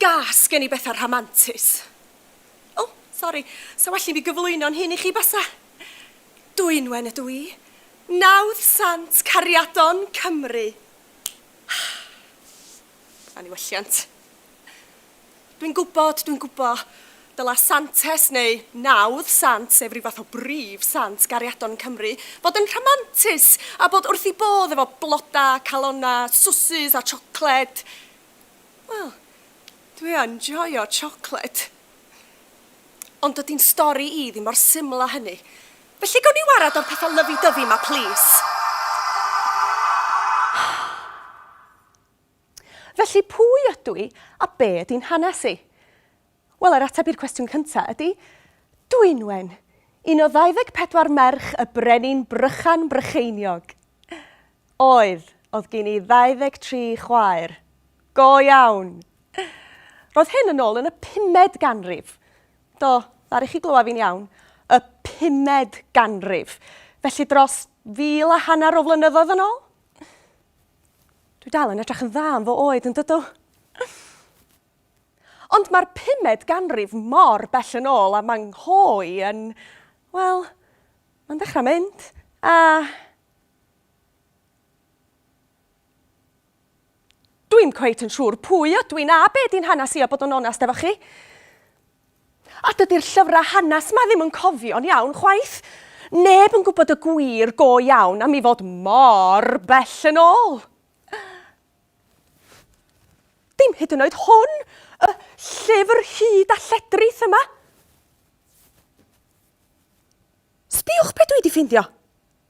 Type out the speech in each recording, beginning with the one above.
Gas gen i bethau rhamantus. O, oh, sori, sa well i mi gyflwyno'n hyn i chi basa. Dwynwen ydw i. Nawdd Sant Cariadon Cymru. Anniwylliant. Dwi'n gwybod, dwi'n gwybod, dyla Santes neu nawdd Sant, sef rhyw fath o brif Sant gariadon yn Cymru, fod yn rhamantus a bod wrth ei bodd efo blodau, calonnau, swsys a siocled. Wel, dwi yn joio siocled. Ond dydy'n stori i ddim mor syml â hynny. Felly gawn ni warad o'r petha lyfi dyfi ma plîs? Felly pwy ydw i a be ydy'n hanes i? Wel yr ateb i'r cwestiwn cynta ydy Dwynwen, un o 24 merch y brenin Brychan Brycheiniog. Oedd, oedd gin i 23 chwaer. Go iawn! Roedd hyn yn ôl yn y pumed ganrif. Do, ddaru chi glywed fi'n iawn, y pumed ganrif, felly dros fil a hanner o flynyddoedd yn ôl. Dwi dal yn edrych yn dda am fy oed yn dydw. Ond mae'r pumed ganrif mor bell yn ôl a mae nghoe yn... Wel, mae'n dechrau mynd, a... Dwi'm cweit yn siŵr pwy ydw i na be di'n hanes i a bod yn onest efo chi. A dydy'r llyfrau hanes 'ma ddim yn cofio'n iawn chwaith. Neb yn gwybod y gwir go iawn am i fod mor bell yn ôl. Dim hyd yn oed hwn, y llyfr hud a lledrith yma. Sbiwch be dwi wedi ffeindio.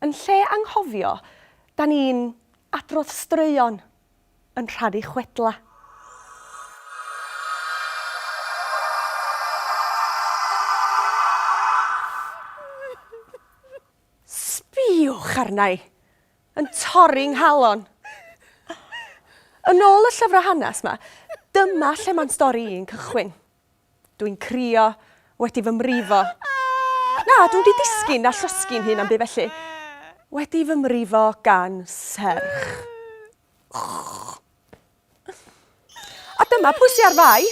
Yn lle anghofio, da ni'n adrodd straeon yn rhannu chwedlau. Sbïwch arna i, yn torri 'nghalon. Yn ôl y llyfrau hanes 'ma, dyma lle mae'n stori i'n cychwyn. Dwi'n crio, wedi fy mrifo. Na, dw wedi disgyn na llosgi'n hun am byd felly. Wedi fy mrifo gan serch. A dyma pwy sy ar fai.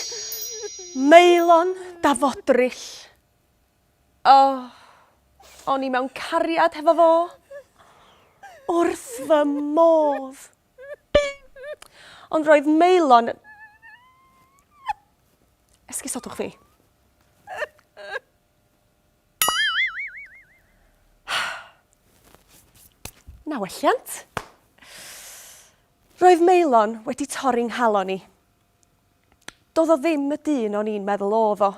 Meilon da fodryll. O, o'n i mewn cariad hefo fo. Wrth fy modd. Ond roedd Maelon... Esgusodwch fi. Na welliant. Roedd Maelon wedi torri nghalon i. Doedd o ddim y dyn o'n i'n meddwl oedd o.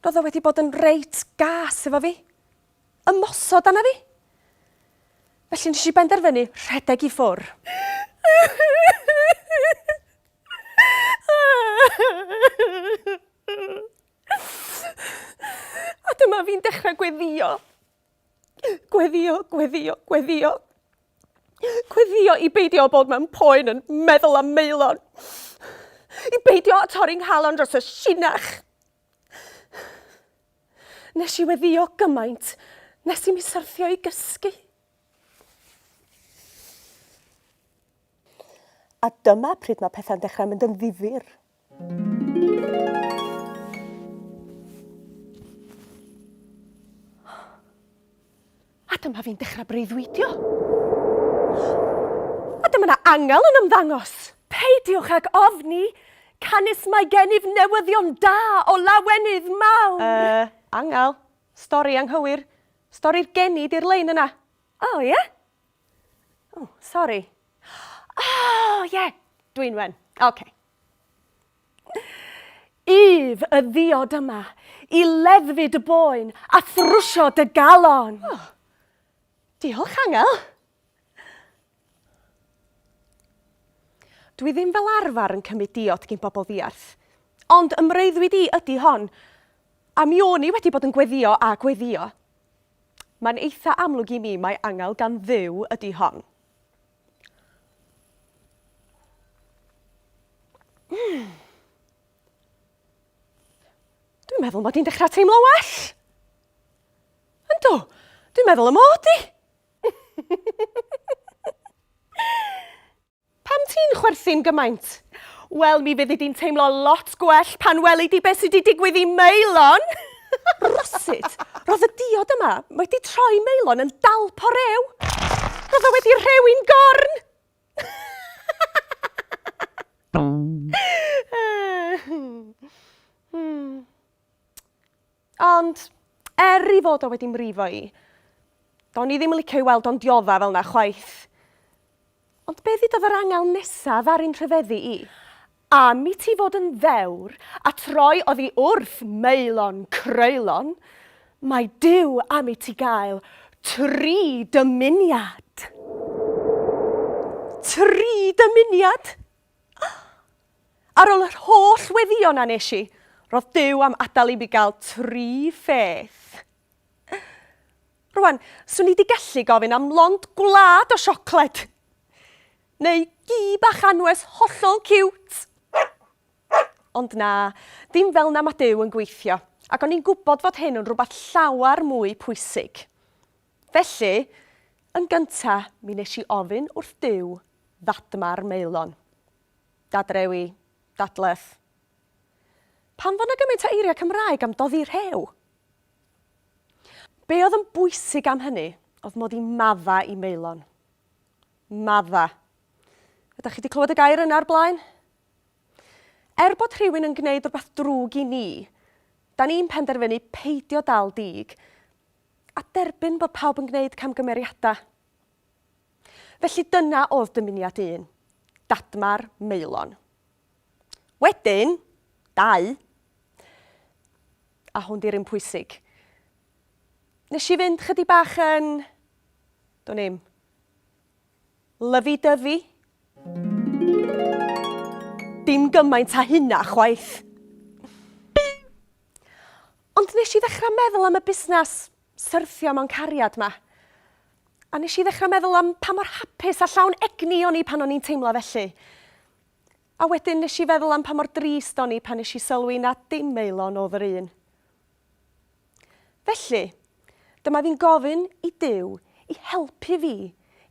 Roedd o wedi bod yn reit gas efo fi. ymosod arna fi. Felly nes i benderfynu rhedeg i ffwr. A dyma fi'n dechrau gweddio. Gweddio, gweddio, gweddio. Gweddio i beidio bod mewn poen yn meddwl am meilon. I beidio torri nghalon dros y sinach. Nes i weddio gymaint nes i mi syrthio i gysgu. A dyma pryd mae pethau'n dechrau mynd yn ddifyr. A dyma fi'n dechrau breuddwydio. A dyma na angel yn ymddangos. Peidiwch ag ofni, canys mae gennyf newyddion da o lawenydd mawr. Yy, angel, stori anghywir. Stori'r geni di'r lein yna. O, ie? O, sori. O, ie, Dwynwen. Ocê. Ef y ddiod yma i leddfu dy boen a thrwsio dy galon. Oh. Diolch, Angel. Dwi ddim fel arfer yn cymryd diod gyn bobl ddiarth, ond ymreuddwyd i ydy hon, a mi o'n i wedi bod yn gweddio a gweddio. Mae'n eitha amlwg i mi mae angel gan dduw ydy hon. Mm. Dwi'n meddwl mod i'n dechrau teimlo well. Yndw, dwi'n meddwl y mod i. Pam ti'n chwerthin gymaint? Wel, mi fyddi di'n teimlo lot gwell pan weli di beth sydd wedi digwydd i Meilon. Rywsut, roedd y diod yma wedi troi Maelon yn dalp o rew! Roedd o wedi rhewi'n gorn! Ond, er ei fod o wedi mrifo i, do'n i ddim yn licio i weld o'n diodda fel 'na chwaith. Ond be ddudodd yr angel nesa ddaru'n rhyfeddu i? Am i ti fod yn ddewr, a troi oddi wrth Maelon Creulon, mae Duw am i ti gael tri dymuniad. Tri dymuniad? Ar ol yr holl weddion a nes i, ro'dd Duw am adal i mi gael tri pheth. Rwan, swn i 'di gallu gofyn am lond gwlad o siocled! Neu gi bach anwes hollol ciwt! Ond na, dim fel 'na ma' Duw yn gweithio, ac o'n i'n gwybod fod hyn yn rhywbeth llawer mwy pwysig. Felly, yn gynta, mi nes i ofyn wrth Duw ddadma'r maelon. Dadrewi, dadleth. Pam fo' 'na gymaint o eiriau Cymraeg am doddi rhew? Be oedd yn bwysig am hynny oedd mod i madda i Maelon. Madda. Ydych chi wedi clywed y gair yna ar blaen? Er bod rhywun yn gwneud rhywbeth drwg i ni, da ni'n penderfynu peidio dal dig a derbyn bod pawb yn gwneud camgymeriadau. Felly dyna oedd dymuniad un, Dadmar Maelon. Wedyn, dau, a hwn di'r un pwysig. Nes i fynd chydig bach yn, do'n i'm, lyfi-dyfi. Dim gymaint a hynna chwaith. Ond nes i ddechrau meddwl am y busnes syrthio mewn cariad 'ma. A nes i ddechrau meddwl am pa mor hapus a llawn egni o'n i pan o'n i'n teimlo felly. A wedyn nes i feddwl am pa mor drist o'n i pan nes i sylwi na dim Maelon o'dd yr un. Felly, dyma fi'n gofyn i Duw i helpu fi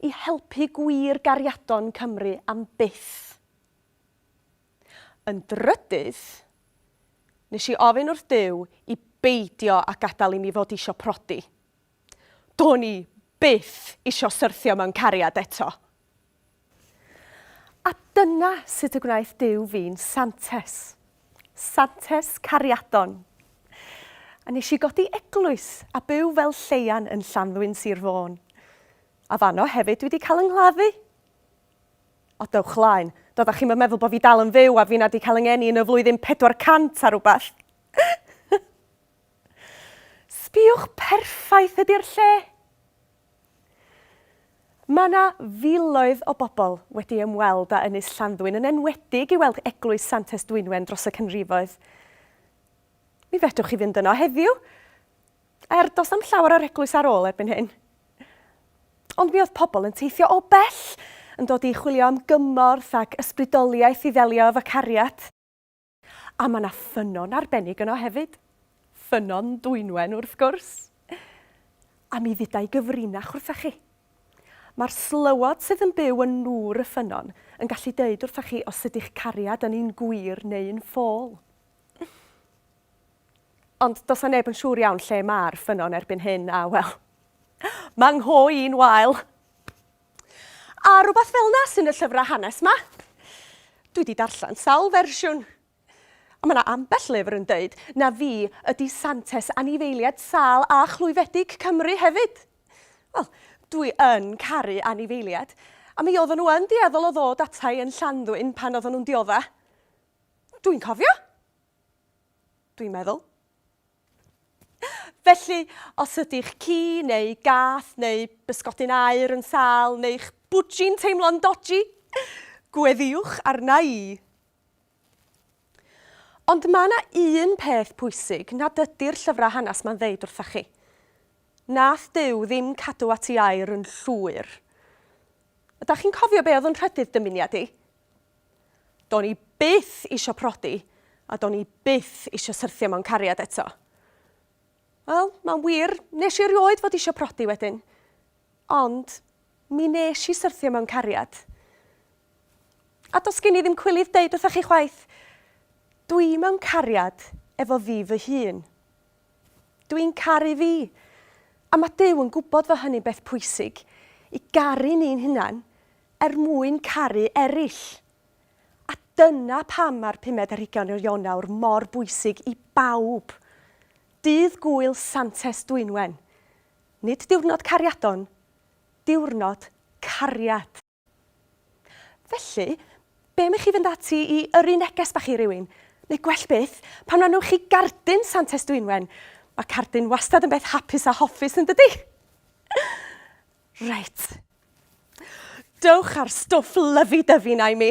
i helpu gwir gariadon Cymru am byth. Yn drydydd, nes i ofyn wrth Duw i beidio â gadael i mi fod isio prodi. Do'n i byth isio syrthio mewn cariad eto. A dyna sut y gwnaeth Duw fi'n Santes. Santes cariadon. A nes i godi eglwys a byw fel lleian yn Llanddwyn, Sir Fôn. A fanno hefyd dwi 'di cael yng nghladdu. O, dewch laen. Doeddech chi'm yn meddwl bod fi dal yn fyw a finna 'di cael yng ngeni yn y flwyddyn 400 a rhywbeth. Sbïwch perffaith ydi'r lle! Mae 'na filoedd o bobl wedi ymweld â Ynys Llanddwyn yn enwedig i weld Eglwys Santes Dwynwen dros y canrifoedd. Mi fedrwch chi fynd yno heddiw, er does na'm llawer o'r eglwys ar ôl erbyn hyn. Ond mi oedd pobl yn teithio o bell yn dod i chwilio am gymorth ac ysbrydoliaeth i ddelio efo cariad. A mae 'na ffynnon arbennig yno hefyd. Ffynnon Dwynwen, wrth gwrs. A mi fydda i gyfrinach wrthoch chi. Mae'r slywod sydd yn byw yn nŵr y ffynnon yn gallu deud wrthoch chi os ydy'ch cariad yn un gwir neu un ffôl. Ond does 'na neb yn siŵr iawn lle mae'r ffynnon erbyn hyn, a wel, mae ngho i'n wael. A rhywbeth fel 'na sy'n y llyfrau hanes 'ma. Dwi 'di darllen sawl fersiwn. A ma' 'na ambell lyfr yn deud na fi ydi Santes anifeiliaid sâl a chlwyfedig Cymru hefyd. Wel, dwi yn caru anifeiliaid, a mi oedden nhw yn dueddol o ddod ata i yn Llanddwyn pan oedden nhw'n diodda'. Dwi'n cofio! Dwi'n meddwl. Felly, os ydy'ch ci neu gath neu bysgodyn aur yn sâl neu'ch bwdji'n teimlo'n doji, gweddiwch arna i! Ond mae yna un peth pwysig nad ydy'r llyfrau hanes 'ma'n ddeud wrtha chi. Nath Duw ddim cadw at i aur yn llwyr. Ydach chi'n cofio be oedd yn rhydydd dymuniad i? Do'n i byth isio prodi a do'n i byth isio syrthio mewn cariad eto. Wel, mae'n wir, nes i erioed fod isio prodi wedyn. Ond, mi nes i syrthio mewn cariad. A dos gen i ddim cwilydd deud wrthoch chi chwaith, dwi mewn cariad efo fi fy hun. Dw i'n caru fi! A mae Duw yn gwybod fod hynny'n beth pwysig, i garu ni'n hunain er mwyn caru eraill. A dyna pam mae'r pumed ar hugain o Ionawr mor bwysig i bawb. Dydd Gŵyl Santes Dwynwen. Nid diwrnod cariadon, diwrnod cariad! Felly, be am i chi fynd ati i yrru neges bach i rywun? Neu gwell byth, pan rannwch chi gardyn Santes Dwynwen? Mae cardyn wastad yn beth hapus a hoffus yn dydy? Reit. Dewch â'r stwff lyfi-dyfi 'na i mi.